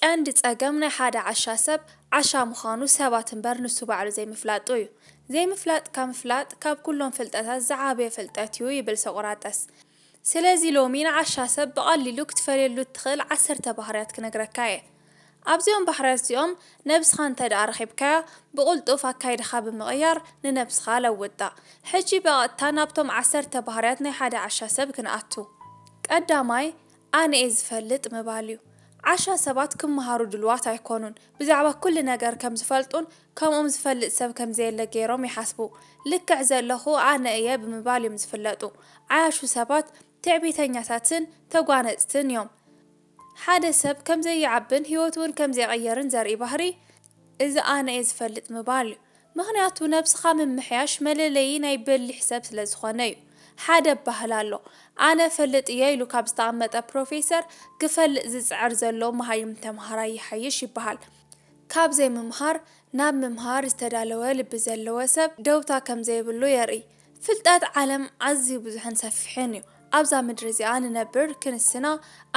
ቀንዲ ጸገም ናይ ሓደ ዓሻ ሰብ ዓሻ ምዃኑ ሰባት እምበር ንሱ ባዕሉ ዘይምፍላጡ እዩ። ዘይምፍላጥካ ምፍላጥ ካብ ኩሎም ፍልጠታት ዝዓበየ ፍልጠት እዩ ይብል ሶቅራጠስ። ስለዚ ሎሚ ንዓሻ ሰብ ብቐሊሉ ክትፈልየሉ እትኽእል ዓሰርተ ባህርያት ክነግረካ እየ። ኣብዚኦም ባህርያት እዚኦም ነብስኻ እንተድኣ ረኺብካያ ብቕልጡፍ ኣካይዳኻ ብምቕያር ንነብስኻ ለውጣ። ሕጂ በቐጥታ ናብቶም ዓሰርተ ባህርያት ናይ ሓደ ዓሻ ሰብ ክንኣቱ። ቀዳማይ፣ ኣነ'የ ዝፈልጥ ምባል'ዩ። ዓሻ ሰባት ክመሃሩ ድሉዋት ኣይኮኑን። ብዛዕባ ኩሉ ነገር ከም ዝፈልጡን ከምኦም ዝፈልጥ ሰብ ከም ዘየለ ገይሮም ይሓስቡ። ልክዕ ዘለኹ ኣነ እየ ብምባል እዮም ዝፍለጡ። ዓያሹ ሰባት ትዕቢተኛታትን ተጓነጽትን እዮም። ሓደ ሰብ ከም ዘይዓብን ህይወቱ'ውን ከም ዘይቕይርን ዘርኢ ባህሪ እዚ ኣነ'የ ዝፈልጥ ምባል'ዩ። ምኽንያቱ ነብስኻ ምምሕያሽ መለለዪ ናይ በሊሕ ሰብ ስለ ዝኾነ እዩ። ሓደ ኣባህላ ኣሎ፣ ኣነ እፈልጥ እየ ኢሉ ካብ ዝተቐመጠ ፕሮፌሰር ክፈልጥ ዝጽዕር ዘሎ መሃይም ተምሃራይ ይሓይሽ ይበሃል። ካብ ዘይምምሃር ናብ ምምሃር ዝተዳለወ ልቢ ዘለዎ ሰብ ደውታ ከም ዘይብሉ የርኢ። ፍልጠት ዓለም ኣዝዩ ብዙሕን ሰፊሕን እዩ። ኣብዛ ምድሪ እዚኣ ንነብር ክንስና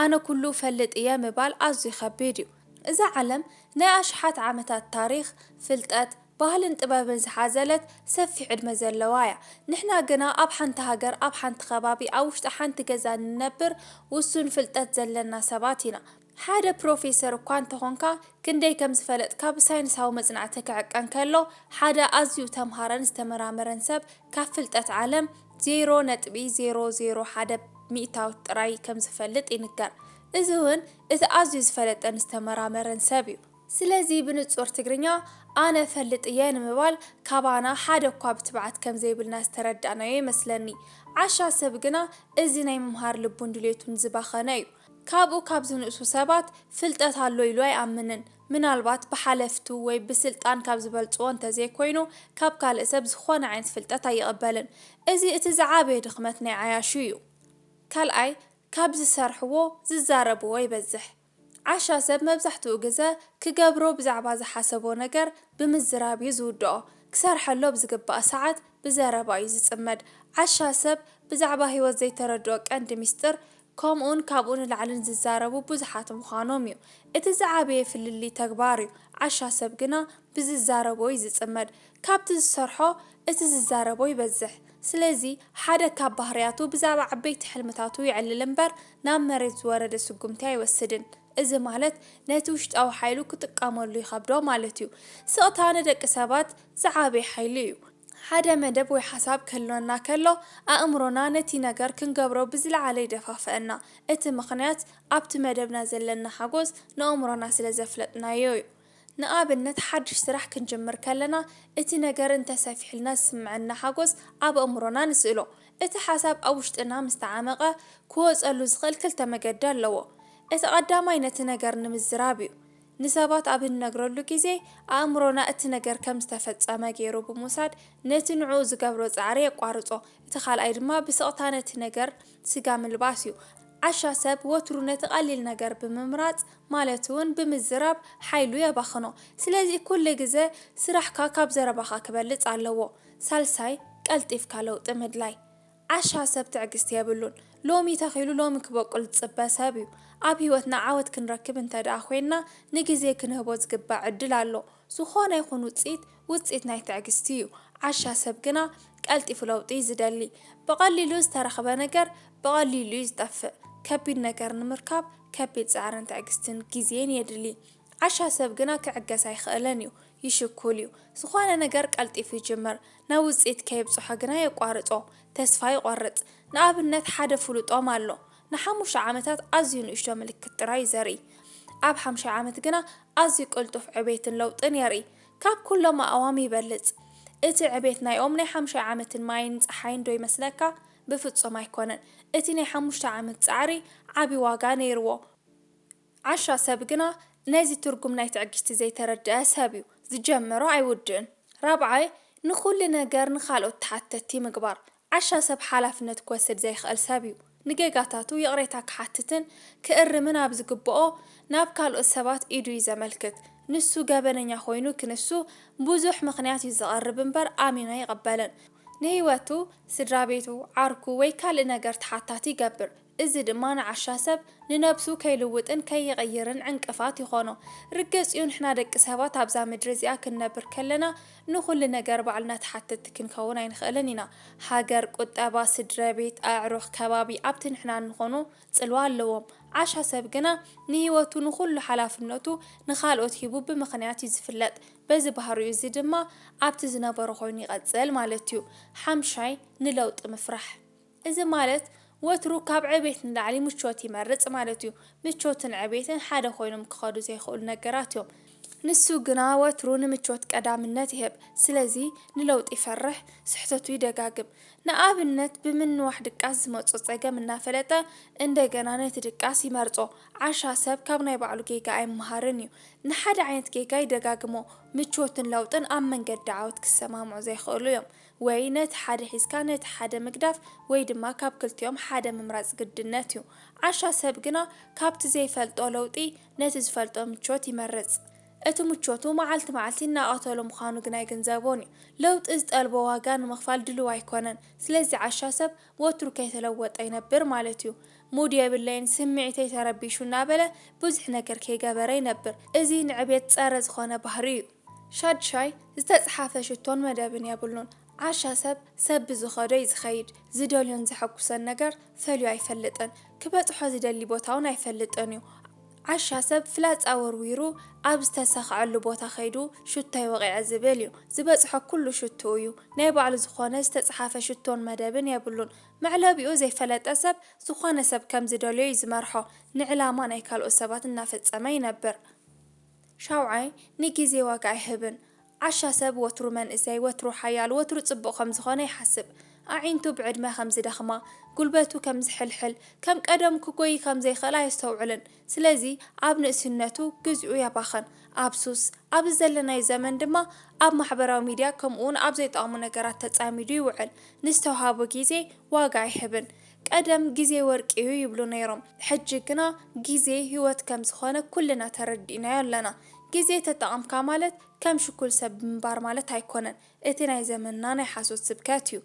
ኣነ ኩሉ እፈልጥ እየ ምባል ኣዝዩ ከቢድ እዩ። እዛ ዓለም ናይ ኣሽሓት ዓመታት ታሪኽ፣ ፍልጠት፣ ባህልን ጥበብን ዝሓዘለት ሰፊሕ ዕድመ ዘለዋ እያ። ንሕና ግና ኣብ ሓንቲ ሃገር፣ ኣብ ሓንቲ ከባቢ፣ ኣብ ውሽጢ ሓንቲ ገዛ እንነብር ውሱን ፍልጠት ዘለና ሰባት ኢና። ሓደ ፕሮፌሰር እኳ እንተኾንካ ክንደይ ከም ዝፈለጥካ ብሳይንሳዊ መጽናዕቲ ክዕቀን ከሎ ሓደ ኣዝዩ እተምሃረን ዝተመራመረን ሰብ ካብ ፍልጠት ዓለም ዜሮ ነጥቢ ዜሮ ዜሮ ሓደ ሚእታዊት ጥራይ ከም ዝፈልጥ ይንገር። እዚ እውን እቲ ኣዝዩ ዝፈለጠን ዝተመራመረን ሰብ እዩ። ስለዚ ብንጹር ትግርኛ ኣነ እፈልጥ እየ ንምባል ካባና ሓደ እኳ ብትብዓት ከም ዘይብልና ዝተረዳእናዮ ይመስለኒ። ዓሻ ሰብ ግና እዚ ናይ ምምሃር ልቡን ድሌቱን ዝባኸነ እዩ። ካብኡ ካብ ዝንእሱ ሰባት ፍልጠት ኣሎ ኢሉ ኣይኣምንን። ምናልባት ብሓለፍቱ ወይ ብስልጣን ካብ ዝበልጽዎ እንተዘይኮይኑ ካብ ካልእ ሰብ ዝኾነ ዓይነት ፍልጠት ኣይቕበልን። እዚ እቲ ዝዓበየ ድኽመት ናይ ዓያሹ እዩ። ካልኣይ ካብ ዝሰርሕዎ ዝዛረብዎ ይበዝሕ። ዓሻ ሰብ መብዛሕትኡ ግዘ ክገብሮ ብዛዕባ ዝሓሰቦ ነገር ብምዝራብ እዩ ዝውድኦ። ክሰርሐሉ ኣብ ዝግባእ ሰዓት ብዘረባ እዩ ዝጽመድ። ዓሻ ሰብ ብዛዕባ ህይወት ዘይተረድኦ ቀንዲ ሚስጥር ከምኡን ካብኡ ንላዕልን ዝዛረቡ ብዙሓት ምዃኖም እዩ። እቲ ዝዓበየ ፍልልይ ተግባር እዩ። ዓሻ ሰብ ግና ብዝዛረቦ እዩ ዝጽመድ። ካብቲ ዝሰርሖ እቲ ዝዛረቦ ይበዝሕ። ስለዚ ሓደ ካብ ባህርያቱ ብዛዕባ ዓበይቲ ሕልምታቱ የዕልል እምበር ናብ መሬት ዝወረደ ስጉምቲ ኣይወስድን። እዚ ማለት ነቲ ውሽጣዊ ሓይሉ ክጥቀመሉ ይኸብዶ ማለት እዩ። ስቕታ ንደቂ ሰባት ዝዓበየ ሓይሊ እዩ። ሓደ መደብ ወይ ሓሳብ ክህልወና ከሎ፣ ኣእምሮና ነቲ ነገር ክንገብሮ ብዝለዓለ ይደፋፍኣና። እቲ ምኽንያት፣ ኣብቲ መደብና ዘለና ሓጐስ ንኣእምሮና ስለ ዘፍለጥናዮ'ዩ። ንኣብነት፣ ሓድሽ ስራሕ ክንጅምር ከለና፣ እቲ ነገር እንተ ሰፊሑልና ዝስምዓና ሓጐስ ኣብ ኣእምሮና ንስእሎ። እቲ ሓሳብ ኣብ ውሽጥና ምስ ተዓመቘ፣ ክወጸሉ ዝኽእል ክልተ መገዲ ኣለዎ። እቲ ቀዳማይ ነቲ ነገር ንምዝራብ'ዩ። ንሰባት ኣብ እንነግረሉ ግዜ፣ ኣእምሮና እቲ ነገር ከም ዝተፈጸመ ገይሩ ብምውሳድ ነቲ ንዕኡ ዝገብሮ ጻዕሪ የቋርጾ። እቲ ካልኣይ ድማ ብስቕታ ነቲ ነገር ስጋ ምልባስ እዩ። ዓሻ ሰብ ወትሩ ነቲ ቀሊል ነገር ብምምራጽ ማለት'ውን ብምዝራብ ሓይሉ የባኽኖ። ስለዚ ኩሉ ግዘ ስራሕካ ካብ ዘረባኻ ክበልጽ ኣለዎ። ሳልሳይ፣ ቀልጢፍካ ለውጢ ምድላይ። ዓሻ ሰብ ትዕግስቲ የብሉን ሎሚ ተኺሉ ሎሚ ክቦቅል ዝጽበ ሰብ እዩ ኣብ ሂወትና ዓወት ክንረክብ እንተድኣ ኮይንና ንግዜ ክንህቦ ዝግበእ ዕድል ኣሎ ዝኾነ ይኹን ውጽኢት ውጽኢት ናይ ትዕግስቲ እዩ ዓሻ ሰብ ግና ቀልጢፉ ለውጢ እዩ ዝደሊ ብቐሊሉ ዝተረኽበ ነገር ብቐሊሉ እዩ ዝጠፍእ ከቢድ ነገር ንምርካብ ከቢድ ጻዕርን ትዕግስትን ግዜን የድሊ ዓሻ ሰብ ግና ክዕገስ ኣይኽእልን እዩ ይሽኩል እዩ። ዝኾነ ነገር ቀልጢፉ ይጅምር፣ ናብ ውጽኢት ከየብጽሖ ግና የቋርጾ፣ ተስፋ ይቖርጽ። ንኣብነት ሓደ ፍሉጦም ኣሎ፣ ንሓሙሽተ ዓመታት ኣዝዩ ንእሽቶ ምልክት ጥራይ እዩ ዘርኢ። ኣብ ሓምሻይ ዓመት ግና ኣዝዩ ቅልጡፍ ዕቤትን ለውጥን የርኢ። ካብ ኩሎም ኣእዋም ይበልጽ። እቲ ዕቤት ናይ ኦም ናይ ሓምሻይ ዓመትን ማይን ጸሓይን ዶ ይመስለካ? ብፍጹም ኣይኮነን። እቲ ናይ ሓሙሽተ ዓመት ጻዕሪ ዓቢ ዋጋ ነይርዎ። ዓሻ ሰብ ግና ነዚ ትርጉም ናይ ትዕግስቲ ዘይተረድኣ ሰብ እዩ። ዝጀመሮ ኣይውድእን። ራብዓይ፣ ንኹሉ ነገር ንኻልኦት ተሓተቲ ምግባር። ዓሻ ሰብ ሓላፍነት ክወስድ ዘይኽእል ሰብ እዩ። ንጌጋታቱ ይቕሬታ ክሓትትን ክእርምን ኣብ ዝግብኦ ናብ ካልኦት ሰባት ኢዱ እዩ ዘመልክት። ንሱ ገበነኛ ኮይኑ ክንሱ ብዙሕ ምኽንያት እዩ ዘቐርብ እምበር ኣሚኑ ኣይቕበልን። ንህይወቱ፣ ስድራቤቱ፣ ዓርኩ ወይ ካልእ ነገር ተሓታቲ ይገብር። እዚ ድማ ንዓሻ ሰብ ንነብሱ ከይልውጥን ከይቕይርን ዕንቅፋት ይኾኖ። ርገጽ'ዩ ንሕና ደቂ ሰባት ኣብዛ ምድሪ እዚኣ ክንነብር ከለና ንኹሉ ነገር ባዕልና ተሓተቲ ክንከውን ኣይንኽእልን ኢና። ሃገር፣ ቁጠባ፣ ስድረቤት፣ ኣዕሩኽ፣ ከባቢ ኣብቲ ንሕና እንኾኖ ጽልዋ ኣለዎም። ዓሻ ሰብ ግና ንህይወቱ ንኹሉ ሓላፍነቱ ንኻልኦት ሂቡ ብምኽንያት'ዩ ዝፍለጥ። በዚ ባህሪኡ እዚ ድማ ኣብቲ ዝነበሮ ኮይኑ ይቐጽል ማለት'ዩ። ሓምሻይ፣ ንለውጢ ምፍራሕ። እዚ ማለት ወትሩ ካብ ዕቤት ንላዕሊ ምቾት ይመርጽ ማለት እዩ። ምቾትን ዕቤትን ሓደ ኮይኖም ክኸዱ ዘይክእሉ ነገራት እዮም። ንሱ ግና ወትሩ ንምቾት ቀዳምነት ይህብ። ስለዚ ንለውጢ ይፈርሕ፣ ስሕተቱ ይደጋግም። ንኣብነት ብምንዋሕ ድቃስ ዝመጾ ጸገም እናፈለጠ እንደገና ነቲ ድቃስ ይመርጾ። ዓሻ ሰብ ካብ ናይ ባዕሉ ጌጋ ኣይመሃርን እዩ። ንሓደ ዓይነት ጌጋ ይደጋግሞ። ምቾትን ለውጥን ኣብ መንገዲ ዓወት ክሰማምዑ ዘይክእሉ እዮም። ወይ ነቲ ሓደ ሒዝካ ነቲ ሓደ ምግዳፍ ወይ ድማ ካብ ክልቲኦም ሓደ ምምራጽ ግድነት እዩ። ዓሻ ሰብ ግና ካብቲ ዘይፈልጦ ለውጢ ነቲ ዝፈልጦ ምቾት ይመርጽ። እቲ ምቾቱ መዓልቲ መዓልቲ እናቐተሎ ምዃኑ ግና ኣይግንዘቦን እዩ። ለውጢ ዝጠልቦ ዋጋ ንምኽፋል ድሉው ኣይኮነን። ስለዚ ዓሻ ሰብ ወትሩ ከይተለወጠ ይነብር ማለት እዩ። ሙድ የብለይን፣ ስምዒተይ ተረቢሹ እናበለ ብዙሕ ነገር ከይገበረ ይነብር። እዚ ንዕቤት ጸረ ዝኾነ ባህሪ እዩ። ሻድሻይ፣ ዝተጽሓፈ ሽቶን መደብን የብሉን። ዓሻ ሰብ፣ ሰብ ብዝኸዶ እዩ ዝኸይድ። ዝደልዮን ዘሐጉሰን ነገር ፈልዩ ኣይፈልጥን። ክበጽሖ ዝደሊ ቦታውን ኣይፈልጥን እዩ። ዓሻ ሰብ ፍላጻ ወርዊሩ ኣብ ዝተሰኽዐሉ ቦታ ከይዱ ሽቶይ ወቒዐ ዝብል እዩ። ዝበጽሖ ኩሉ ሽትኡ እዩ። ናይ ባዕሉ ዝኾነ ዝተጽሓፈ ሽቶን መደብን የብሉን። መዕለቢኡ ዘይፈለጠ ሰብ ዝኾነ ሰብ ከም ዝደልዮ እዩ ዝመርሖ። ንዕላማ ናይ ካልኦት ሰባት እናፈጸመ ይነብር። ሻውዓይ፣ ንጊዜ ዋጋ ኣይህብን። ዓሻ ሰብ ወትሩ መንእሰይ፣ ወትሩ ሓያል፣ ወትሩ ጽቡቕ ከም ዝኾነ ይሓስብ። ኣዒንቱ ብዕድመ ከም ዝደኽማ፣ ጉልበቱ ከም ዝሕልሕል፣ ከም ቀደሙ ክጎዪ ከም ዘይክእል ኣየስተውዕልን። ስለዚ ኣብ ንእስነቱ ግዚኡ የባኽን። ኣብ ሱስ፣ ኣብዚ ዘለናዮ ዘመን ድማ ኣብ ማሕበራዊ ሚድያ ከምኡ'ውን ኣብ ዘይጠቕሙ ነገራት ተጻሚዱ ይውዕል። ንዝተውሃቦ ጊዜ ዋጋ ኣይህብን። ቀደም ግዜ ወርቂዩ ይብሉ ነይሮም ሕጂ ግና ግዜ ሂወት ከም ዝኾነ ኩልና ተረዲእናዮ ኣለና ግዜ ተጠቐምካ ማለት ከም ሽኩል ሰብ ምንባር ማለት ኣይኮነን እቲ ናይ ዘመንና ናይ ሓሶት ስብከት እዩ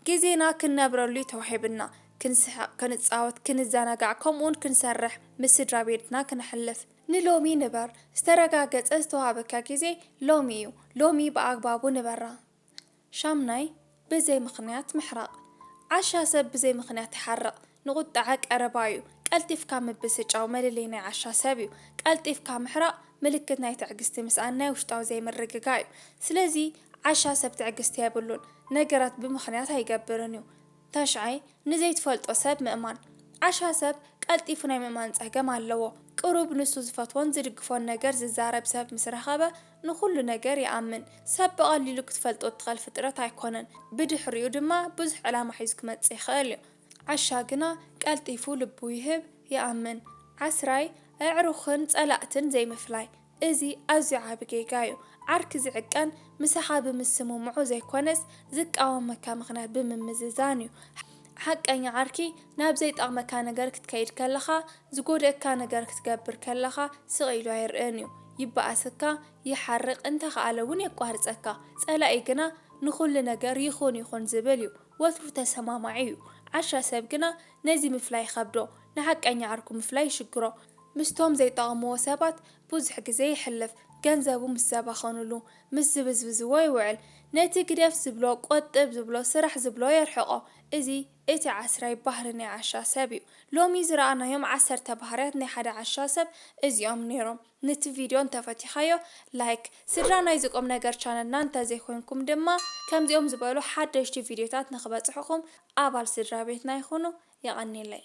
ግዜና ክንነብረሉ እዩ ተዋሂብና ክንስሕቕ ክንጻወት ክንዘናጋዕ ከምኡውን ክንሰርሕ ምስ ስድራቤትና ክነሕልፍ ንሎሚ ንበር ዝተረጋገጸ ዝተዋሃበካ ግዜ ሎሚ እዩ ሎሚ ብኣግባቡ ንበራ። ሻምናይ፣ ብዘይ ምኽንያት ምሕራቕ። ዓሻ ሰብ ብዘይ ምኽንያት ይሓርቕ። ንቑጠዐ ቀረባ እዩ። ቀልጢፍካ ምብስጫው መለለይ ናይ ዓሻ ሰብ እዩ። ቀልጢፍካ ምሕራቕ ምልክት ናይ ትዕግስቲ ምስኣን ናይ ውሽጣዊ ዘይምርግጋእ እዩ። ስለዚ ዓሻ ሰብ ትዕግስቲ የብሉን። ነገራት ብምኽንያት ኣይገብርን እዩ። ታሽዓይ፣ ንዘይትፈልጦ ሰብ ምእማን። ዓሻ ሰብ ቀልጢፉ ናይ ምእማን ጸገም ኣለዎ። ቅሩብ ንሱ ዝፈትዎን ዝድግፎን ነገር ዝዛረብ ሰብ ምስ ረኸበ ንኹሉ ነገር ይኣምን። ሰብ ብቐሊሉ ክትፈልጦ እትኸል ፍጥረት ኣይኮነን። ብድሕሪኡ ድማ ብዙሕ ዕላማ ሒዙ ክመጽእ ይኸእልዮ። ዓሻ ግና ቀልጢፉ ልቡ ይህብ፣ ይኣምን። ዓስራይ፣ ኣዕሩኽን ጸላእትን ዘይምፍላይ። እዚ ኣዝዩ ዓቢ ጌጋ እዩ። ዓርኪ ዝዕቀን ምሳኻ ብምስምምዑ ዘይኮነስ ዝቃወመካ ምኽንያት ብምምዝዛን እዩ። ሓቀኛ ዓርኪ ናብ ዘይጠቕመካ ነገር ክትከይድ ከለኻ፣ ዝጎድኣካ ነገር ክትገብር ከለኻ ስቕ ኢሉ ኣይርእን እዩ። ይበኣሰካ፣ ይሓርቕ፣ እንተኸኣለ እውን የቋርጸካ። ጸላኢ ግና ንኹሉ ነገር ይኹን ይኹን ዝብል እዩ። ወትሩ ተሰማማዒ እዩ። ዓሻ ሰብ ግና ነዚ ምፍላይ ይኸብዶ፣ ንሓቀኛ ዓርኩ ምፍላይ ይሽግሮ። ምስቶም ዘይጠቕምዎ ሰባት ብዙሕ ግዜ የሕልፍ፣ ገንዘቡ ምስ ዘባኸኑሉ፣ ምስ ዝብዝብዝዎ ይውዕል፣ ነቲ ግደፍ ዝብሎ፣ ቆጥብ ዝብሎ፣ ስራሕ ዝብሎ የርሕቖ። እዚ እቲ ዓስራይ ባህሪ ናይ ዓሻ ሰብ እዩ። ሎሚ ዝረኣናዮም ዓሰርተ ባህርያት ናይ ሓደ ዓሻ ሰብ እዚኦም ኔሮም። ነቲ ቪድዮ እንተፈቲኻዮ ላይክ፣ ስድራ ናይዚ ቁምነገር ቻነልና እንተዘይኮይንኩም ድማ ከምዚኦም ዝበሉ ሓደሽቲ ቪድዮታት ንኽበጽሑኹም ኣባል ስድራቤትና ይኹኑ። የቐኔለይ።